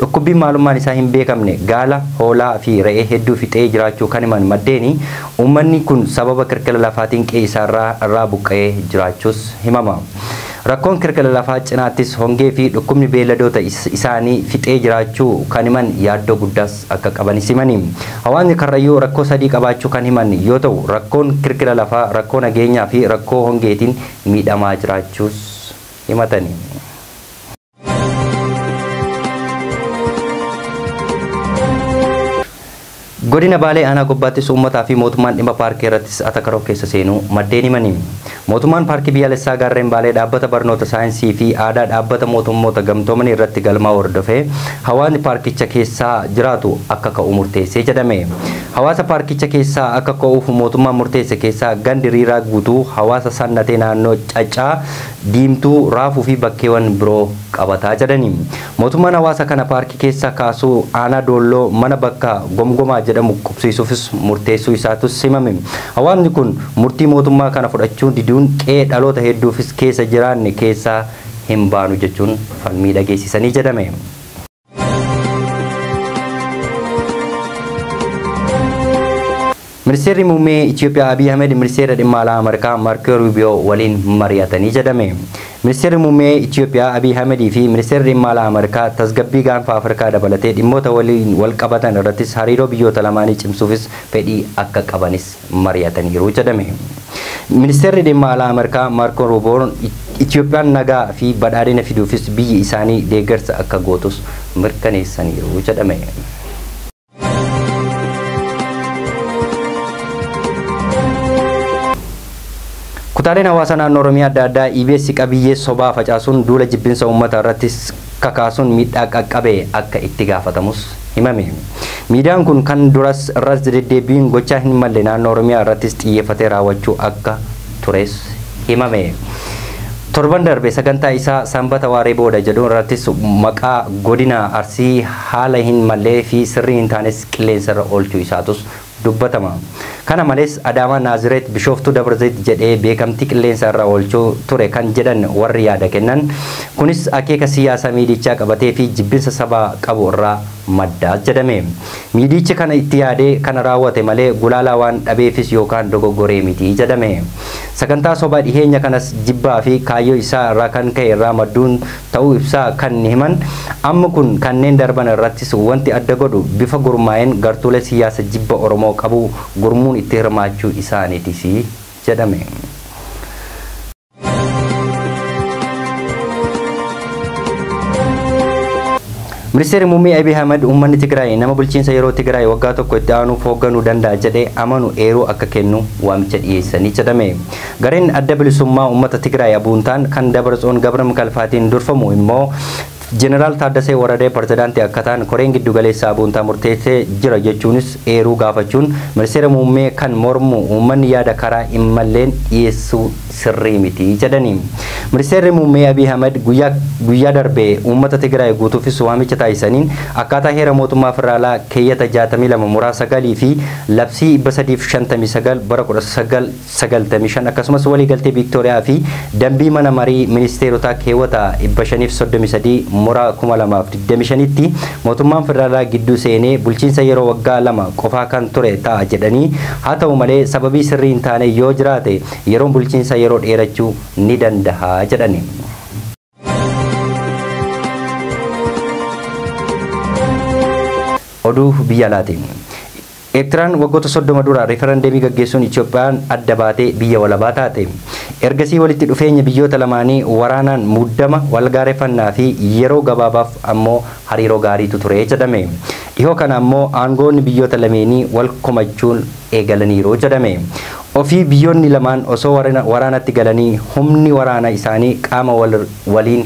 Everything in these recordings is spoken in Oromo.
Dhukkubbiin maalummaan isaa hin beekamne gaala, hoolaa fi re'ee hedduu fixee jiraachuu kan himan maddeeni, uummanni kun sababa kirkira lafaatiin qe'ee isaarraa irraa buqqa'ee jiraachuus himama. Rakkoon kirkira lafaa cinaattis hongee fi dhukkubni beelladoota isaanii fixee jiraachuu kan himan yaaddoo guddaas akka qabanis himani. Hawaasni Karrayyuu rakkoo sadii qabaachuu kan himan yoo ta'u, rakkoon kirkira lafaa, rakkoo nageenyaa fi rakkoo hongeetiin miidhamaa jiraachuus himatani. Godina Baalee aanaa gobbaattis uummataa fi mootummaan dhimma paarkii irrattis atakaroo keessa seenuu maddeen himanii. Mootummaan paarkii biyyaalessaa gaarreen Baalee dhaabbata barnoota saayinsii fi aadaa dhaabbata mootummoota gamtoomanii irratti galmaa'uu hordofee hawaasni paarkicha keessaa jiraatu akka ka'u murteessee jedhame. Hawaasa paarkicha keessaa akka ka'uuf mootummaan murteesse keessaa gandi riiraa guutuu hawaasa sannatee naannoo caccaa Diimtuu, Raafuu fi bakkeewan biroo qabata jedhani. Mootummaan hawaasa kana paarkii keessa kaasuu aanaa Doolloo mana bakka Gomgomaa jedhamu qubsiisuufis murteessuu isaatus himame. Hawaasni kun murtii mootummaa kana fudhachuu diduun qe'ee dhaloota hedduufis keessa jiraanne keessaa hin baanu jechuun falmii dhageessisanii jedhame. Ministeerri Muummee Itiyoophiyaa Abiy Ahmed Ministeera Dhimma Alaa Ameerikaa Maarkoo Ruubiyoo waliin mari'atanii jedhame. Ministeerri Muummee Itiyoophiyaa Abiy Ahmed fi Ministeerri Dhimma Alaa Ameerikaa tasgabbii gaanfa Afrikaa dabalatee dhimmoota waliin wal qabatan irrattis hariiroo biyyoota lamaanii cimsuufis fedhii akka qabanis mari'ataniiru jedhame. Ministeerri Dhimma Alaa Ameerikaa Maarkoo Ruuboon Itiyoophiyaan nagaa fi badhaadhina fiduufis biyyi isaanii deeggarsa akka gootus mirkaneessaniiru jedhame. Kutaaleen hawaasaa naannoo Oromiyaa adda addaa EBS qabiyyee sobaa facaasuun duula jibbinsa uummataa irratti kakaasuun miidhaa qaqqabe akka itti gaafatamus himame. Miidiyaan kun kan duras irras deddeebbiin gochaa hin malle naannoo Oromiyaa irrattis xiyyeeffatee raawwachuu akka tures himame. Torban darbe sagantaa isaa Sanbata waaree booda jedhu irrattis maqaa godina Arsii haala hin mallee fi sirrii hin taanes qilleensa irra oolchuu isaatus dubbatama. Kana malees Adaamaa, Naazireet, Bishooftuu, Dabrazayit jedhee beekamtii qilleensa irra oolchuu ture kan jedhan warri yaada kennan, kunis akeeka siyaasa miidiyichaa qabatee fi jibbinsa sabaa qabu irraa madda jedhame. Miidiyichi kana itti yaadee kana raawwate malee gulaalaa waan dhabeefis yookaan dogoggoree miti jedhame. Sagantaa sobaa dhiheenya kanas jibbaa fi kaayyoo isaa irraa kan ka'e irraa madduun ta'uu ibsaa kan himan amma kun kanneen darban irrattis wanti adda godhu bifa gurmaa'een gartuulee siyyaasa jibba Oromoo qabu gurmuun itti hirmaachuu isaaniitisi jedhame. Ministeerri Muummee Abiy Ahmed uummanni Tigraay nama bulchiinsa yeroo Tigraay waggaa tokko itti aanuuf hoogganuu danda'a jedhee amanu eeruu akka kennu waamicha dhiyeessanii jedhame. Gareen Adda Bilisummaa Uummata Tigraay Abuuntaan kan Dabartsoon Gabramkalfaatiin durfamu immoo Jeneraal Taaddasee Waradee Pirezidaantii akka ta'an Koreen Giddugaleessaa Abuuntaa murteessee jira jechuunis eeruu gaafachuun Ministeera Muummee kan mormu uummanni yaada karaa immalleen dhiyeessuu sirrii miti jedhani. Ministeerri Muummee Abiy Ahimad guyyaa guyyaa darbe uummata Tigraay guutuufis waamicha taasisaniin akkaataa Heera Mootummaa Federaalaa keeyyata 62 muraa 9 fi Labsii 359 bara 19 95 akkasumas waliigaltee Viiktooriyaa fi dambii mana marii ministeerotaa keewwata 533 mora 2025tti mootummaan federaalaa gidduu seenee bulchiinsa yeroo waggaa lama qofaa kan ture ta'a jedhanii haa ta'u malee sababii sirrii hin taane yoo jiraate yeroon bulchiinsa yeroo dheerachuu ni dandaha jedhani. Oduu biyya alaatiin. Eertiraan waggoota soddoma dura riifarandeemii gaggeessuun Itoophiyaan adda baatee biyya walabaa taate. Ergasii walitti dhufeenya biyyoota lamaanii waraanaan muddama, walgaareffannaa fi yeroo gabaabaaf ammoo hariiroo gaariitu ture jedhame. Dhihoo kana ammoo aangoonni biyyoota lameenii wal komachuun eegalaniiru jedhame. Ofii biyyoonni lamaan osoo warina waraanatti galanii humni waraana isaanii qaama wal waliin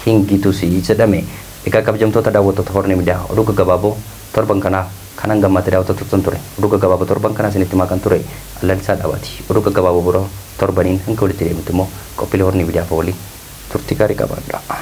hin gitusi jedhame. Egaa kabjamtoota daawwattoota Horn Media oduu gaggabaaboo torban kanaa kan hanga ammaatti daawwataa turtan ture. Oduu gaggabaaboo torban kanaa isinitti himaa kan ture an Lalisaa Dhaabaati. Oduu gaggabaaboo biroo torbaniin hanga walitti deebinutti immoo qophiilee Horn Media hafan waliin turtii gaarii qabaadhaa.